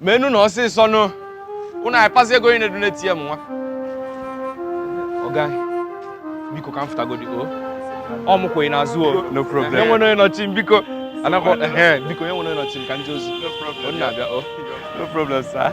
menu na ọsịsọ nụ ụnụ akpazi ego onye na-edonate ya m nwa ọga biko ka m fụtagodi o ọ mụ kwenye n'azụ o no problem enwe onye nọchi m biko anakọ ehe biko enwe onye nọchi m ka m je ozi ọ na-abịa o no problem sir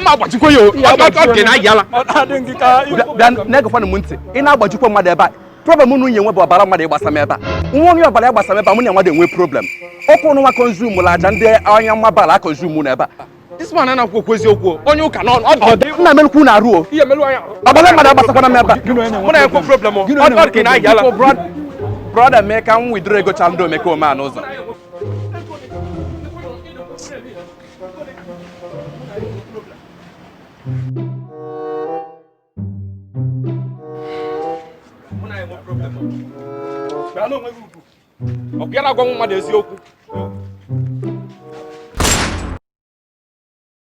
mma agbajikwa ya o ọ dị na ayala na-egekwana m ntị ị na-agbajikwa mmadụ ebe a problem unu nye nwe bụ ọbara mmadụ ịgbasa m ebe a nwa onye ọbara ịgbasa m ebe a mụ na mmadụ enwe problem ọkụ ụnụ nwa konzum la aja ndị anya nwa bara akonzum na ebe a this man anaghị ekwu eziokwu onye ụka n'ọnụ ọ dị nna melukwu na arụ o ọbara mmadụ agbasakwana m ebe a mụ na ekwe problem ọ dị na ayala brother mee ka m withdraw ego chalụ ndị omekome a n'ụzọ ọ bịa na-agwa mmadụ eziokwu